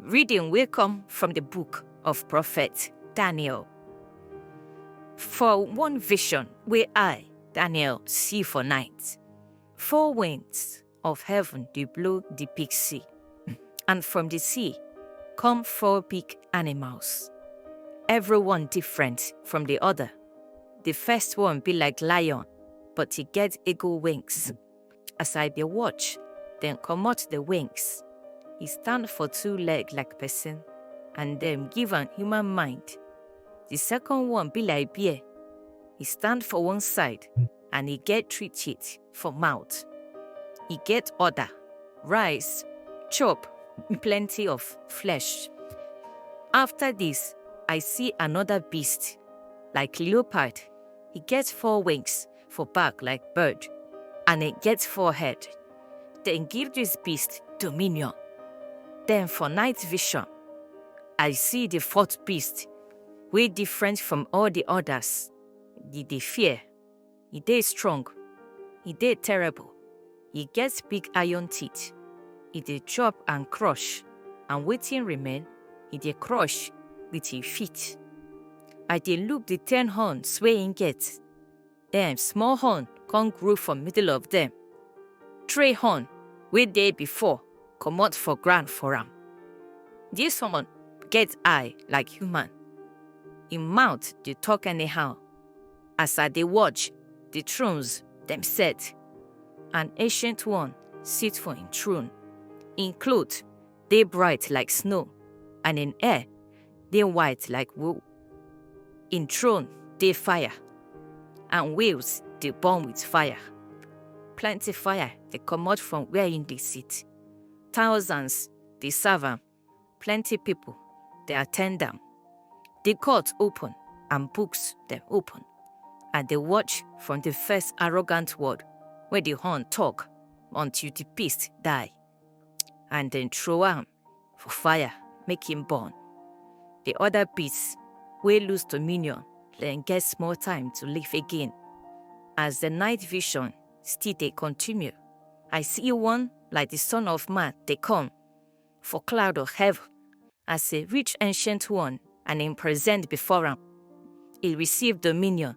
Reading wey come from the book of prophet Daniel. For one vision wey I, Daniel, see for night, four winds of heaven dey blow the big sea, and from the sea come four big animals, every one different from the other. The first one be like lion, but e get eagle wings. As I dey watch, dem comot the wings. He stand for two leg like person, and dem give am human mind. The second one be like bear. He stand for one side, and he get three teeth for mouth. He get order, rise, chop plenty of flesh. After this, I see another beast, like leopard. He get four wings, for back like bird, and it gets four head. Then give this beast dominion. Then for night vision, I see the fourth beast, way different from all the others. He dey fear, he dey strong, he dey terrible, he gets big iron teeth, he dey chop and crush, and waiting remain, he dey crush with his feet. I dey look the ten horns wey he get, Dem small horn come grow for middle of dem. Three horn wey dey before comot for ground for am. Dis one get eye like human. Im mouth dey talk anyhow. As I dey watch, the thrones dem set. An ancient one sit for im throne. Im cloth dey bright like snow, and im hair dey white like wool. Im throne dey fire, and wheels dey burn with fire. Plenty fire dey comot from where im dey sit. Thousands dey serve am, plenty people dey attend am. The court open and books dem open. I dey watch from the first arrogant word wey the horn talk until the beast die. and then throw am for fire make him burn. The other beasts wey lose dominion then get small time to live again. As the night vision still dey continue, I see one like the son of man dey come for cloud of heaven as a rich ancient one and him present before am. He receive dominion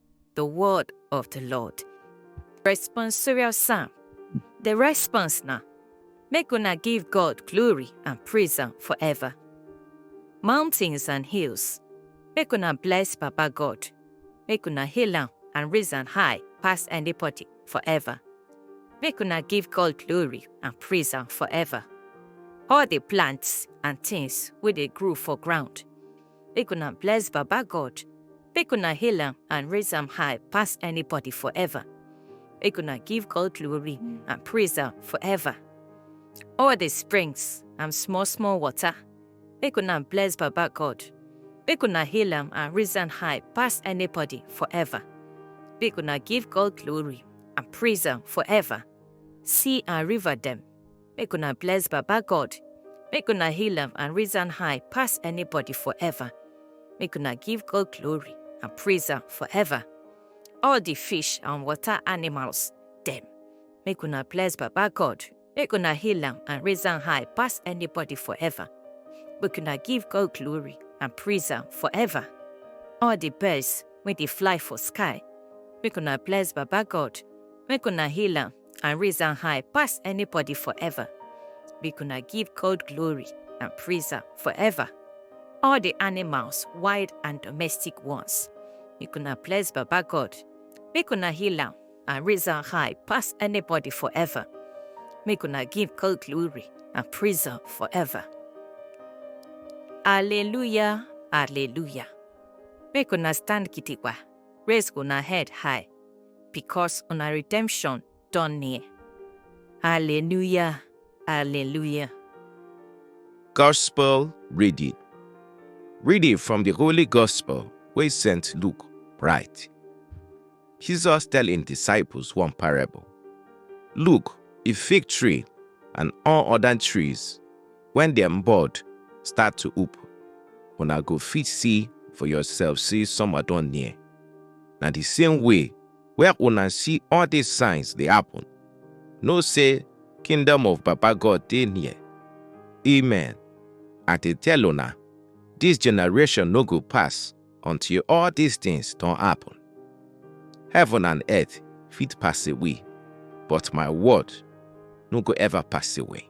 the word of the Lord. Responsorial Psalm. The response now. Make una give God glory and praise am forever. Mountains and hills. Make una bless Papa God. Make una hail am and raise am high past anybody forever. Make una give God glory and praise am forever. All the plants and things wey dey grow for ground. make una bless Baba God, make una hail am and raise am high pass anybody forever. Make una give God glory and praise am forever. All the springs and small small water, make una bless Baba God, make una hail am and raise am high pass anybody forever. Make una give God glory and praise am forever. Sea and river dem, Make una bless Baba God. Make una heal am and raise am high pass anybody forever. Make una give God glory and praise am forever. All the fish and water animals, them. Make una bless Baba God. Make una heal am and raise am high pass anybody forever. Make una give God glory and praise am forever. All the birds wey dey fly for sky, make una bless Baba God. Make una heal am and raise am high pass anybody forever. Make una give God glory and praise am forever. All the animals, wild and domestic ones, make una bless Baba God. Make una heal am and raise am high pass anybody forever. Make una give God glory and praise am forever. Alleluia, alleluia. Make una stand gidigba, raise una head high, because una redemption don near. Hallelujah, hallelujah. Gospel reading. Reading from the Holy Gospel wey St. Luke write. Jesus tell im disciples one parable. Look, a fig tree and all other trees When dem bird start to oop, una go fit see for yourself say summer don near. Na the same way where una see all these signs dey happen, know say kingdom of Baba God dey near. Amen. I dey tell una, this generation no go pass until all these things don happen. Heaven and earth fit pass away, but my word no go ever pass away.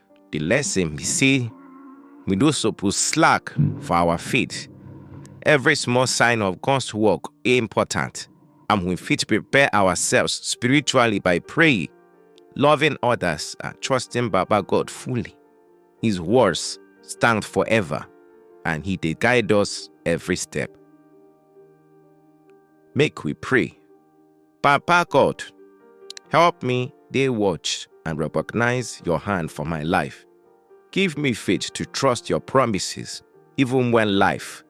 The lesson be say we no suppose slack for our faith. Every small sign of God's work is important, and we fit prepare ourselves spiritually by praying, loving others, and trusting Baba God fully. His words stand forever, and He dey guide us every step. Make we pray. Papa God, help me dey watch and recognize your hand for my life. Give me faith to trust your promises even when life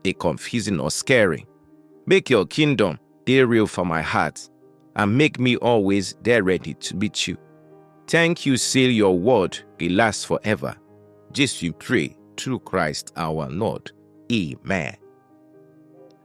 dey confusing or scary. Make your kingdom dey real for my heart and make me always dey ready to meet you. Thank you say your word dey last forever. Jesu pray through Christ our Lord. Amen.